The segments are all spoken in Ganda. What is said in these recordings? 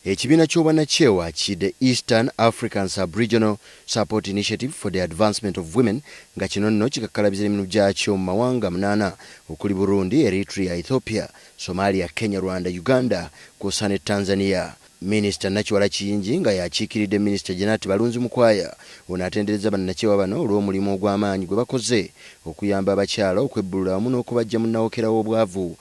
Ekibiina ky'obwanakyewa ki The Eastern African Sub-Regional Support Initiative for the Advancement of Women nga kino nno kikakkalabiza emirimu gyakyo mu mawanga munaana okuli Burundi, Eritrea, Ethiopia, Somalia, Kenya, Rwanda, Uganda kwossa ne Tanzania Minisita Nakiwala Kiyingi nga y'akiikiridde Minisita Janat Balunzi Mukwaya, ono atenderezza bannakyewa bano olw'omulimu ogw'amaanyi gwe bakoze okuyamba abakyala okwebbulula wamu n'okubaggya mu nnawokera w'obwavu.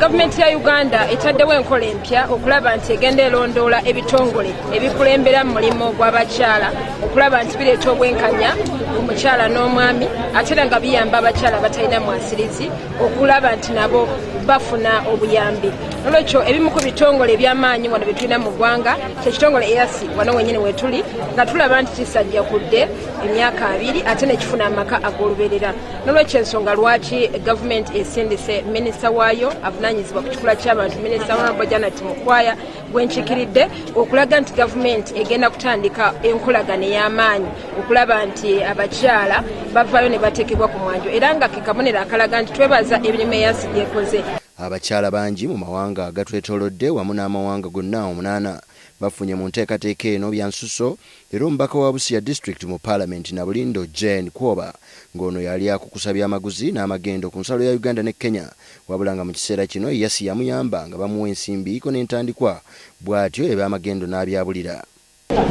Gavumenti ya Uganda etaddewo enkola empya okulaba nti egenda elondoola ebitongole ebikulembera mu mulimu gw'abakyala okulaba nti bireeta obwenkanya ku mukyala n'omwami ate era nga biyamba abakyala abatalina mwasirizi. okulaba nti nabo bafuna obuyambi nolwekyo ebimu ku bitongole ebyamaanyi wano byetulina mu ggwanga kyekitongole easi wano wenyini wetuli nga tulaba nti kisajja kudde emyaka abiri ate nekifuna amaka ag'oluberera nolwekyo ensonga lwaki gavumenti esindise minisita waayo avunanyizibwa ku kikula ky'abantu minisita honorable janet mukwaya gwenkikiridde okulaga nti gavumenti egenda kutandika enkolagana ey'amaanyi okulaba nti abakyala bavaayo ne bateekebwa ku mwanjo era nga ke kabonero akalaga nti twebaza emirimu eyansi gyekoze. Abakyala bangi mu mawanga agatwetoolodde wamu n'amawanga gonna omunaana bafunye mu nteekateeka eno byansusso era omubaka wa Busia District mu Palamenti Nabulindo Jane Kwoba ng'ono yali akukusa byamaguzi n'amagendo ku nsalo ya Uganda ne Kenya wabula nga mu kiseera kino Yasi yamuyamba nga bamuwa ensimbi ko n'entandikwa bwatyo ebyamagendo n'abyabulira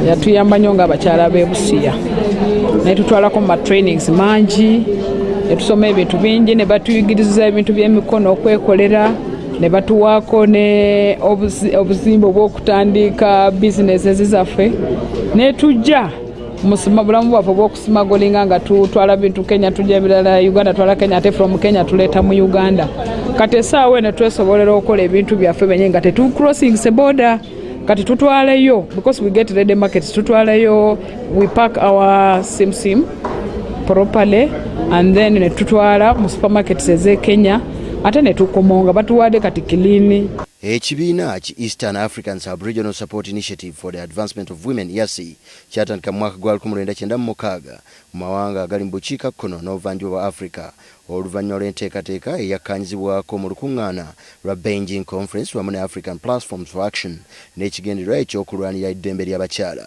yatuyamba nnyo nga abakyala b'e busiya naye tutwalako mu matrainings mangi ne tusoma ebintu bingi ne batuyigiriza ebintu by'emikono okwekolera ne batuwaako ne obuzimba obw'okutandiika bizinesi zaffe ne tujja musima bulamu bwaffe obw'okusimagolinga nga tutwala bintu kenya tujja ebirala uganda twala kenya ate from kenya tuleeta mu uganda kati esaawa eno twesobolera okukola ebintu byaffe benye nga tetucrossing seboda kati tutwaleyo because we get ready markets tutwaleyo we pack our sim sim properly and then netutwala mu supermarkets eze kenya ate netukomonga batuwade kati kilini ekibiina ki eastern african subregional support initiative for the advancement of women yasi kyatandika mu mwaka gwa 1996 mu mawanga agali mu bukiika kkono n'obuvanjuba bwa africa Oluvannyuma lw'enteekateeka eyakkaanyizibwako mu lukuŋŋaana lwa Beijing Conference wamu ne African Platforms for Action n'ekigendererwa eky'okulwanira eddembe ly'abakyala,